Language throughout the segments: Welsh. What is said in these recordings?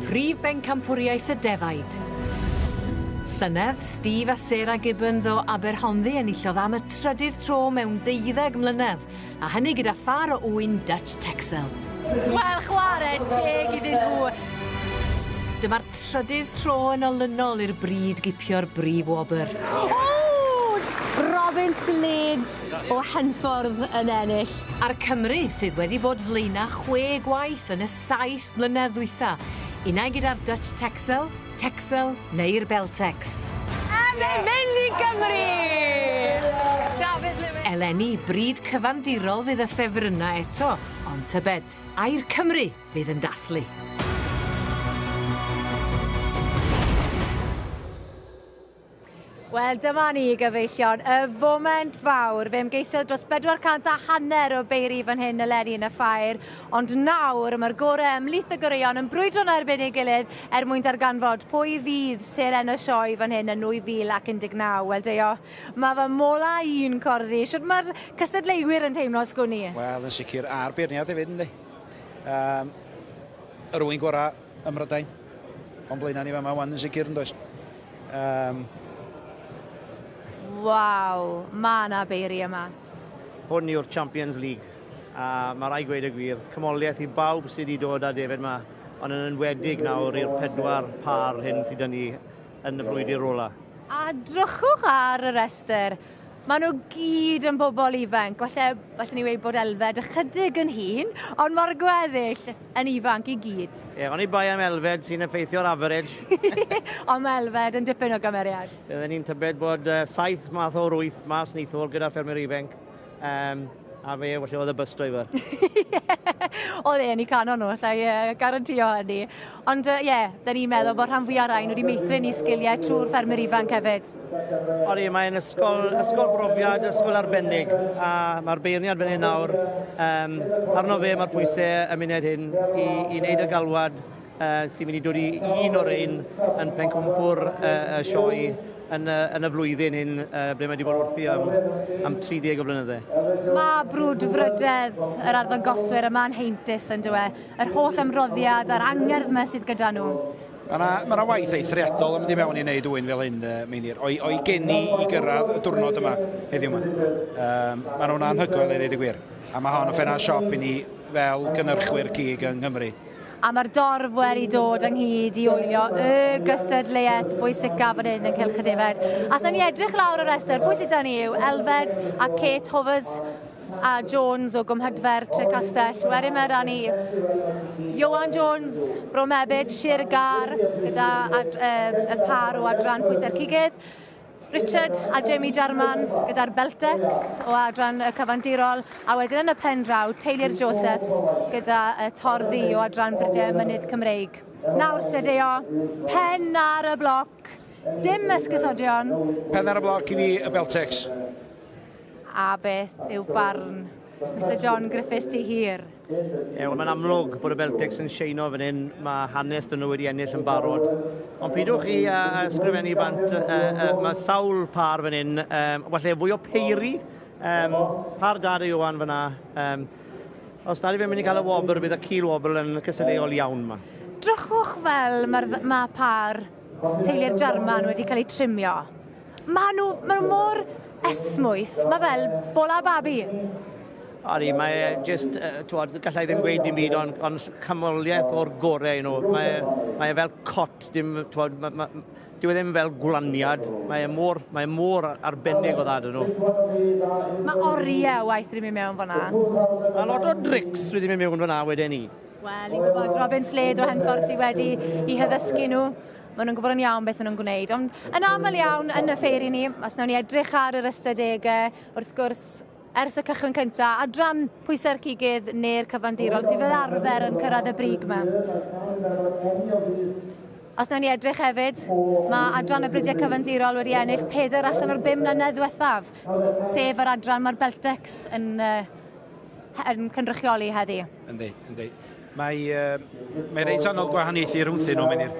Prif Bencampwriaeth y Defaid. Llynedd, Steve a Sarah Gibbons o Aberhonddu enillodd am y trydydd tro mewn deuddeg mlynedd A hynny gyda phâr o ŵyn Dutch Texel. Wel, chwarae teg iddyn nhw! Dyma'r trydydd tro yn olynol i'r Bryd gipio'r brif wobr. Robin Slade o Henffordd yn ennill. A'r Cymry sydd wedi bod flaenau chwe gwaith yn y saith mlynedd ddwytha', unai gyda'r Dutch Texel, Texel neu'r Beltex. A mae'n mynd i Gymru! Dafydd Lewis. Eleni, bryd cyfandirol fydd y ffefrynnau eto, ond tybed, ai'r Cymry fydd yn dathlu? Wel, dyma ni, gyfeillion, y foment fawr. Fe ymgeisiodd dros 400 a hanner o beiri fan hyn eleni yn y ffair, ond nawr mae'r gorau ymlith y goreuon yn brwydro na erbyn ei gilydd er mwyn darganfod pwy fydd seren y sioe fan hyn yn 2019. Wel, Deio, mae fy mola i'n corddi. Siwt mae'r cystadleuwyr yn teimlo, sgwn i? Wel, yn sicr, a'r beirniad hefyd, yndi. Um, yr ŵyn gorau Ym Mhrydain. O'n blaenau ni fama wan yn sicr yn does? Um, Waw, mae yna beiri yma. Hwn yw'r Champions League, a mae rai gweud y gwir, cymoliaeth i bawb sydd wedi dod â defaid yma, ond yn enwedig nawr i'r pedwar pâr hyn sydd â ni yn y brwydr ola. A drychwch ar y rhestr, Maen nhw gyd yn bobl ifanc, falle, falle ni wedi bod Elfed ychydig yn hun, ond mae'r gweddill yn ifanc i gyd. Ie, yeah, oni bai am Elfed sy'n effeithio'r average. ond mae Elfed yn dipyn o gymeriad. Byddwn ni'n tybed bod uh, saith math o'r wyth mas nithwr gyda ffermwyr ifanc. Um, A fe, felly oedd y bus driver. oedd e'n i canon nhw, allai uh, garantio hynny. Ond ie, uh, yeah, da ni'n meddwl bod rhan fwyaf rhain wedi meithrin i sgiliau trwy'r ffermwyr ifanc hefyd. Ori, mae'n ysgol, ysgol brofiad, ysgol arbennig, a mae'r beirniad fan hyn nawr, um, arno fe mae'r pwysau y munud hyn i, i wneud y galwad uh, sy'n mynd i dod i un o'r ein yn pencampwr uh, y sioe yn y, yn y flwyddyn hyn uh, ble mae wedi bod wrthi am, am 30 o blynyddau. Mae brwd frydedd yr arddon goswyr yma yn heintus yn dywe, yr holl ymroddiad a'r angerdd yma sydd gyda nhw. Mae yna ma na waith eithriadol yn mynd i mewn i wneud wy'n fel hyn, uh, Meinir, o'i, oi geni i gyrraedd y diwrnod yma heddiw yma. Um, mae nhw'n anhygoel i ddweud y gwir. A mae hon yn ffenna siop i ni fel gynnyrchwyr cig yng Nghymru. a mae'r dorf wedi dod ynghyd i oelio y gystadleuaeth bwysicaf fan hyn yn Cylch y Defaid. A sa'n ni edrych lawr y rhestr, pwy sydd da ni yw Elfed a Kate Hovers a Jones o Gwmhydfer, Trecastell. Wedyn mae da ni Johan Jones, Bro Mebyd, Sir y Gar, gyda ad, uh, y par o adran pwysau'r cigydd. Richard a Jamie Jarman gyda'r Beltecs o adran y cyfandirol, a wedyn yn y pen draw, Teulu'r Josephs gyda y Tor Ddu o adran Brydiau a Mynydd Cymreig. Nawr te Deo, pen ar y bloc, dim esgusodion. Pen ar y bloc i fi, y Beltecs. A beth yw barn Mister John Griffiths ti hir? Ew, mae'n amlwg bod y Celtics yn sheino fan hyn, mae hanes dyn nhw wedi ennill yn barod. Ond pidwch chi uh, uh, sgrifennu bant, uh, uh, mae sawl par fan hyn, um, falle fwy o peiri, um, par dad i Iwan fyna. Um, os nad i fe'n mynd i cael y wobr, bydd y cil wobr yn cystadleuol iawn yma. Drychwch fel mae'r ma par teulu'r Jarman wedi cael ei trimio. Mae nhw, mae nhw mor esmwyth, mae fel bola babi. Ori, mae e just, uh, twod, gallai ddim gweud dim byd ond on camoliaeth o'r gorau i nhw. Mae, e, mae e fel cot, dim, twod, mae, mae, dyw e ddim fel gwlaniad. Mae e mor, mae e mor arbennig o ddad yn nhw. Mae oriau waith wedi mynd mewn fyna. A lot o drics wedi mynd mewn fyna wedyn ni. Wel, i'n gwybod, Robin Slade o Henffordd sydd wedi i hyddysgu nhw. maen nhw'n gwybod yn iawn beth maen nhw'n gwneud. Ond yn aml iawn yn y ffeiri ni, os nawn ni edrych ar yr ystadegau, wrth gwrs, ers y cychwyn cyntaf, adran pwysau'r cigydd neu'r cyfandirol sydd fel arfer yn cyrraedd y brig yma. Os nawn ni edrych hefyd, mae adran y bridiau cyfandirol wedi ennill peder allan o'r bum mlynedd ddiwethaf, sef yr adran mae'r Beltex yn, uh, yn cynrychioli heddi. Yndi, yndi. Mae, mae reit anodd gwahaniaethu rhwngthyn nhw, Menir.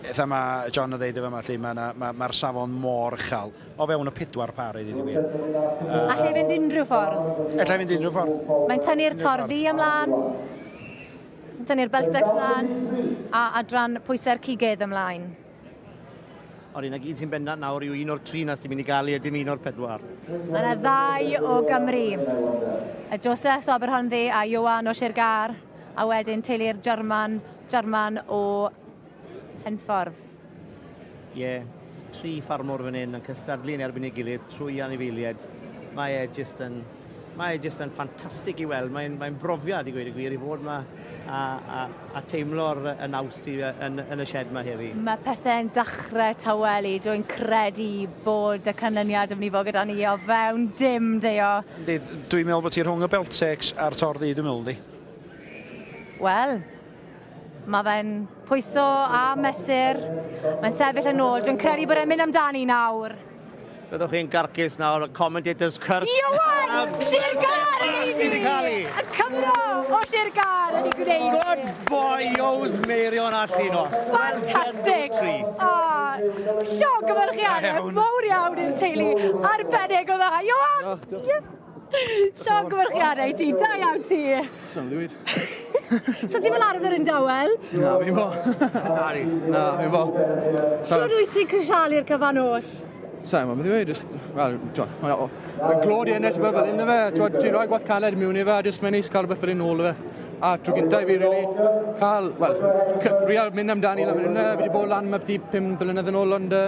Eitha mae John yn ddeud y fama, lle mae'r ma, ma safon mor uchel. O fewn y pedwar par, ei ddyn wir. Uh, Allai fynd unrhyw ffordd. Allai fynd unrhyw ffordd. Mae'n tynnu'r tor ddi ymlaen. Tynnu'r beltex ymlaen. A adran pwysau'r cigydd ymlaen. Ond un ag un sy'n bendant nawr yw un o'r tri na sy'n mynd i gael ei ydym un o'r pedwar. Mae yna ddau o Gymru. Y Joseph o Aberhonddu a Iowan o Sir Gar, a wedyn teulu'r German, German o Henffordd. Ie, yeah, tri ffarmwr fan hyn yn cystadlu yn erbyn ei gilydd trwy anifeiliaid. Mae e jyst yn Mae e jyst yn ffantastig i weld. Mae'n mae brofiad i gweud y gwir i fod yma a, a, a teimlo'r y naws sydd yn, yn y shed yma heddi. Mae pethau'n dechrau tawelu. Dwi'n credu bod y canlyniad yn mynd i fod gyda ni o fewn dim deo. Yndi, dwi'n meddwl bod ti rhwng y Beltecs a'r Tor Ddu dwi'n meddwl yndi? Wel, Mae fe'n pwyso a mesur. Mae'n sefyll yn ôl. Dwi'n credu bod e'n mynd amdani nawr. Byddwch chi'n garcus nawr, y commentators cyrch. Iwan! Sir Gar yn ei sydd wedi cael ei. Y Cymro o Sir Gar wedi gwneud. Good boy, Joes Meirion a Llinos. Fantastic! O, llog ymarchiadau mowr iawn i'r teulu arbennig o dda. Iwan! Llongyfarchiadau i ti, da iawn ti! Sa'n lwyd. so ti'n fel arfer yn dawel? Na, fi'n bo. Na, fi'n bo. Siwr wyt ti'n crisialu'r cyfan oll? Sa'n gwybod beth i weid, just, wel, mae'n glod i ennill beth fel un o fe, ti'n rhoi gwaith caled mewn i fe, just mae'n neis cael rhywbeth fel un ôl o fe. A trwy gyntaf i fi, really, cael, wel, real mynd amdani lan fan hynna, fi wedi bod lan mae beth i 5 blynedd yn ôl, ond uh,